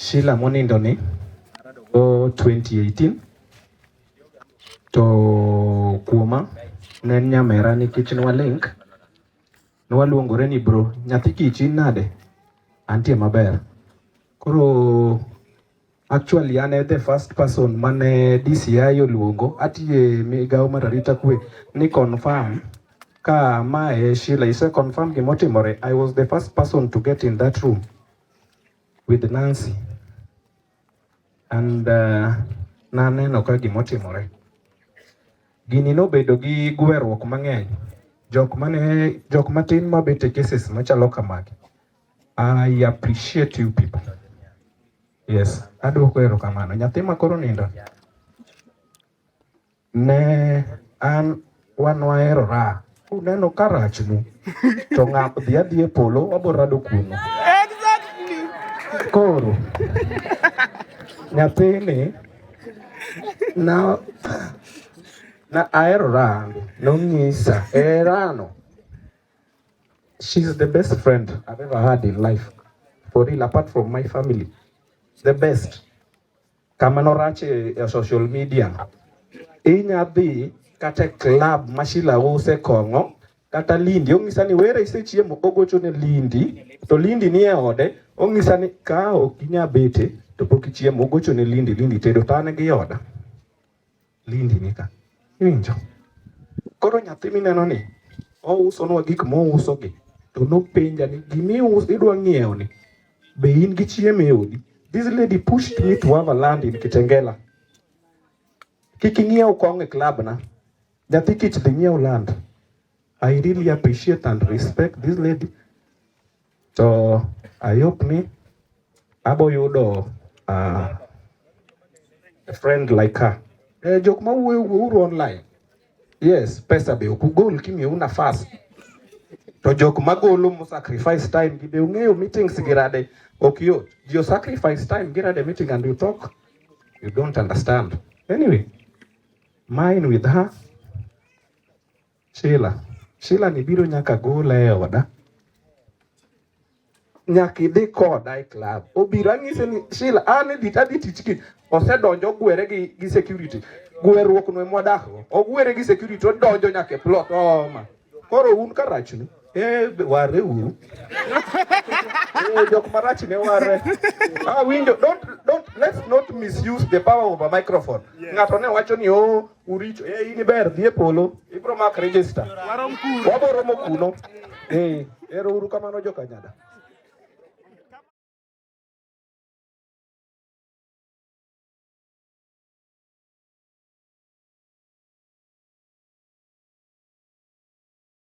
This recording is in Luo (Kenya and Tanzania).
Sheila monindo ni o 2018 to kuoma ne en nyamera nikech nwa link nwaluongore ni bro nyathi kichi nade antie maber koro actually an e the first person mane DCI oluongo atiye migawo mar arita kwe ni confirm ka mae Sheila ise confirm gimotimore I was the first person to get in that room with Nancy and uh, naneno ka gimotimore gini nobedo gi gweruok mang'eny jok mane jok matin mabet e cases machalo kamagi I appreciate you people yes aduoko erokamano nyathi ma koro nindo Ne an wan wahero raha. Uneno ka rachnu to ng'a dhi adhi e polo wabo rado kuno. Koro nyathini na na ahero raha nonyisa herano. She's the best friend I've ever had in life. For real, apart from my family. The best. Kama norach e social media, inya dhi kata club ma Shila use kong'o kata Lindi ong'isa ni were isechiemo, ogocho ne Lindi to Lindi ni e ode, ong'isa ni ka ok inya bete to pok ichiemo, ogocho ne Lindi, Lindi tedo to an gi oda. Lindi nika. Iwinjo? Koro nyathi mineno ni ousonwa gik mousogi to nopenja ni gimius idwa ng'iewo ni be in gi chiemo e odi? This lady pushed me to have a land in Kitengela. Kik ing'iew kong e club na. Nyathi kich dhi ng'iew land. I really appreciate and respect this lady. To ayup ni abo yudo uh, a friend like her. Eh, jok ma wuoyo wuouru online. Yes, pesa be ok ugol kimiu nafas. To jok ma golo mu sacrifice time gi be ung'eyo meetings gi rade ok yot. Ji o sacrifice time gi rade meeting and you talk. You don't understand. Anyway, mine with her Sheila, Sheila ni biro nyaka gole e oda. Nyaka idhi koda e club. Obiro anyise ni Sheila, an edhi tadhi tich ki. Osedonjo ogwere gi, gi security. Gweruok no emwadak go. Ogwere gi security odonjo nyaka e plot. Oma. Koro un karachni. Eh, ware uru. Eh, jok marach ne ware. Ah, window, don't, don't, let's not misuse the power of a microphone. Yes. Ng'ato ne wacho ni, oh, uricho. Eh, ini ber, dhie polo. Ibro mak register. Warom kuno. Wabo romo kuno. Eh, ero uru kamano joka nyada.